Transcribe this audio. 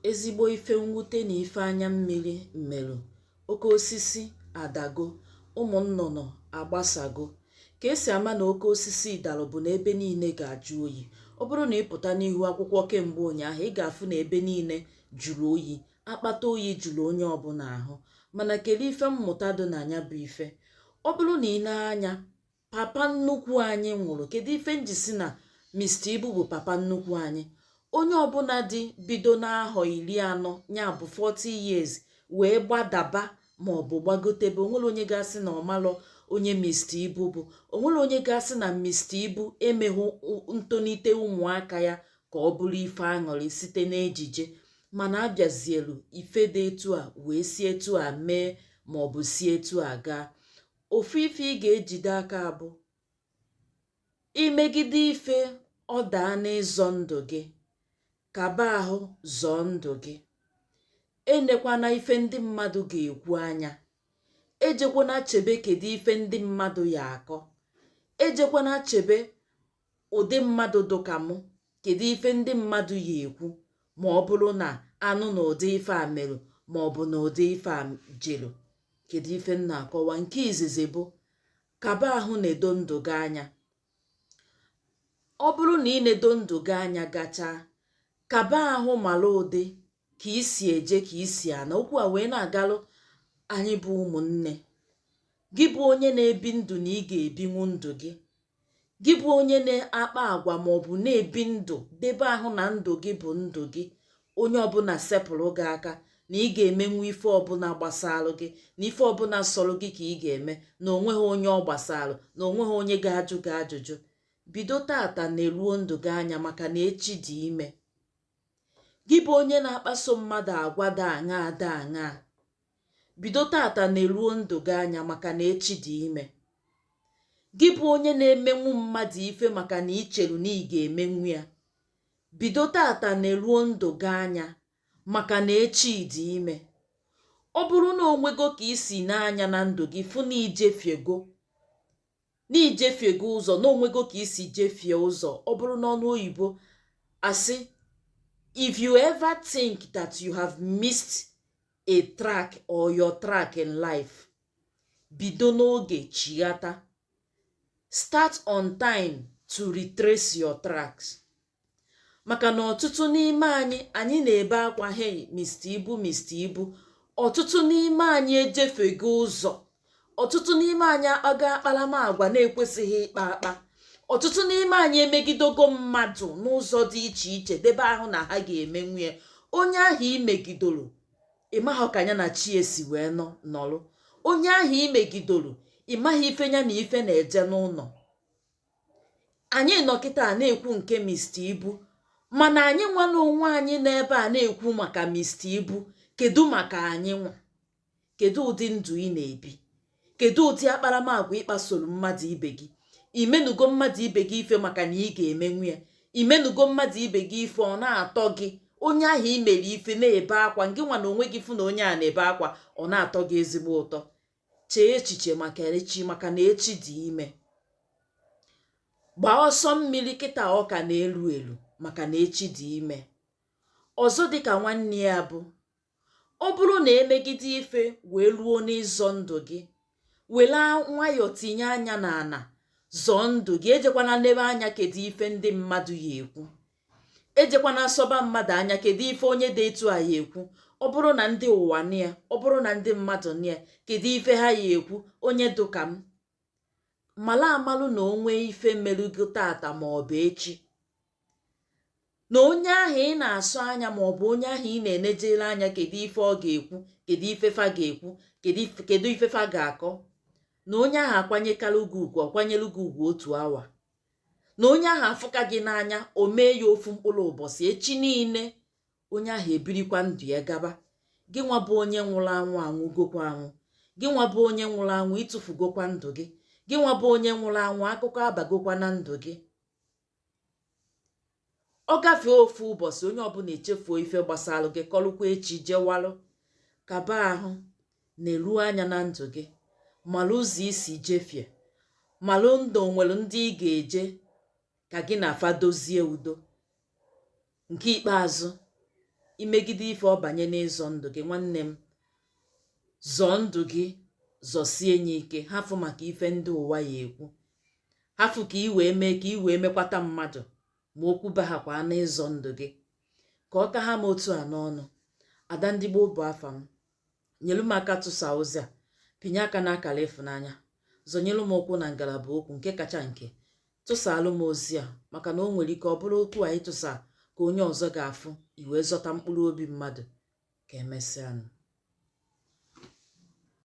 ezigbo ife mwute na ife anya mmiri merụ oke osisi adago ụmụ nnụnụ agbasago ka esi ama na oke osisi dalụ bụ na ebe niile ga-ajụ oyi ọ bụrụ na ị pụta n'ihu akwụkwọ kemgbe ụnyaahụ ị ga-afụ na ebe niile jụrụ oyi akpata oyi juru onye ọbụla ahụ mana kedu ife mmụta dị na nya bụ ife ọ bụrụ na ị nee anya papa nnukwu anyị nwụrụ kedu ife m ji sị na Mr. Ibu bụ papa nnukwu anyị onye ọbụla dị bido n'ahọ iri anọ ya bụ 40 years wee gbadaba ma ọ bụ gbagotebe onwere onye ga-asị na ọmalọ onye Mr. Ibu bụ onwere onye ga-asị na Mr. Ibu emeghụ ntonite ụmụaka ya ka ọ bụrụ ife aṅụrị site n'ejije mana abịazielu ife dị etu a wee si etu a mee ma ọ bụ si etu a gaa ofu ife ị ga-ejide aka bụ imegide ife ọ daa n'ịzọ ndụ gị kaba ahụ zọọ ndụ gị enekwana ife ndị mmadụ ga-ekwu anya ejekwana chebe kedu ife ndị mmadụ ya akọ ejekwana chebe ụdị mmadụ dụka mụ kedu ife ndị mmadụ ya ekwu ma ọ bụrụ na a nụ na ụdị ife a merụ ma ọ bụ na ụdị ife a jelu kedu ife m na-akọwa nke izizi bụ kaba ahụ nedo ndụ gị anya ọ bụrụ na ị nedo ndụ gị anya gachaa kaba ahụ mara ụdị ka i si eje ka i si ana okwu a wee na-agalụ anyị bụ ụmụnne gị bụ onye na-ebi ndụ na ị ga-ebinwu ndụ gị gị bụ onye na-akpa agwa ma ọ bụ na-ebi ndụ debe ahụ na ndụ gị bụ ndụ gị onye ọbụla sepụrụ gị aka na ị ga-emenwu ife ọbụla gbasalụ gị na ife ọbụla sọrọ gị ka ị ga-eme na onweghị onye ọ gbasalụ na onweghị onye ga-ajụ gị ajụjụ bido tata neruo ndụ gị anya maka na echi dị ime gị bụ onye na-akpaso mmadụ agwa dị aṅaa dị aṅaa bido tata neruo ndụ gị anya maka na echi dị ime gị bụ onye na-emenwu mmadụ ife maka na icheru na ị ga-emenwu ya bido tata neruo ndụ gị anya maka na echi dị ime ọ bụrụ na onwego ka i si nee anya na ndụ gị fụ na ijefiego na ijefiego ụzọ na onwego ka i si jefie ụzọ ọ bụrụ n'ọnụ oyibo asị if you ever think that you have missed a track or your track in life bido n'oge chighata start on time to retrace your tracks maka na ọtụtụ n'ime anyị anyị na-ebe akwa hey mr ibu mr ibu ọtụtụ n'ime anyị ejefiego ụzọ ọtụtụ n'ime anyị akpago akparamagwa na-ekwesịghị ịkpa akpa ọtụtụ n'ime anyị emegidogo mmadụ n'ụzọ dị iche iche debe ahụ na ha ga-emenwu ya onye ahụ i megidoro ị maghị ka ya na chi esi wee nọrụ onye ahụ i megidoro ị maghị ife ya na ife na-eje n'ụnọ anyị nọ kịta na-ekwu nke Mr. Ibu mana anyị nwa na onwe anyị n'ebe a na-ekwu maka Mr. Ibu kedu maka anyị nwa kedu ụdị ndụ ị na-ebi kedu ụdị akparamagwa ị kpasoro mmadụ ibe gị i menugo mmadụ ibe gị ife maka na ị ga-emenwu ya i menugo mmadụ ibe gị ife ọ na-atọ gị onye ahụ i mere ife na-ebe akwa ngị nwa na onwe gị fụ na onye a na-ebe akwa ọ na-atọ gị ezigbo ụtọ chee echiche maka echi maka na echi dị ime gbaa ọsọ mmiri kịta ọ ka na-elu elu maka na echi dị ime ọzọ dịka nwanne ya bụ ọ bụrụ na e megide ife wee ruo n'ịzọ ndụ gị were nwayọọ tinye anya n'ana zọọ ndụ gị ejekwana nnebe anya kedu ife ndị mmadụ ya ekwu ejekwana nsọba mmadụ anya kedu ife onye dị etu a ya ekwu ọ bụrụ na ndị ụwa nụ ya ọ bụrụ na ndị mmadụ nụ ya kedu ife ha ya ekwu onye dụka m mala amalụ na o nwee ife melugo taata ma ọ bụ echi na onye ahụ ị na-asọ anya ma ọ bụ onye ahụ ị na-enejere anya kedu ife ọ ga-ekwu kedu ife fa ga-ekwu kedu ife fa ga-akọ na onye ahụ akwanyekala gị ugwu ọ kwanyelu gị ugwu otu awa na onye ahụ afụka gị n'anya o mee ya ofu mkpụrụ ụbọsị echi niile onye ahụ ebirikwa ndụ ya gaba gị nwa bụ onye nwụrụ anwụ anwụgokwa anwụ gị nwa bụ onye nwụrụ anwụ ị tụfugokwa ndụ gị gị nwa bụ onye nwụrụ anwụ akụkọ abagokwa na ndụ gị ọ gafee ofu ụbọsị onye ọbụna echefuo ife gbasalụ gị kọlụkwa echi jewalụ kaba ahụ nelu anya na ndụ gị malụ ụzọ i si jefie malụ ndị o nwere ndị ị ga-eje ka gị na fa dozie udo nke ikpeazụ i megide ife ọ banye n'ịzọ ndụ gị nwanne m zọọ ndụ gị zọsie nye ike hafụ maka ife ndị ụwa ya ekwu hafụ ka ị wee mee ka ị wee mekwata mmadụ ma okwu bahakwa n'ịzọ ndụ gị ka ọ ka ha m otu a n'ọnụ ada ndị gboo bụ afa m nyelu m aka tụsa ozi a pịnye aka n'akara ịfụnanya zọnyelu m ụkwụ na ngalaba okwu nke kacha nke tụsaalụ m ozi a maka na o nwere ike ọ bụrụ okwu anyị tụsa ka onye ọzọ ga-afụ i wee zọta mkpụrụ obi mmadụ ka emesịanụ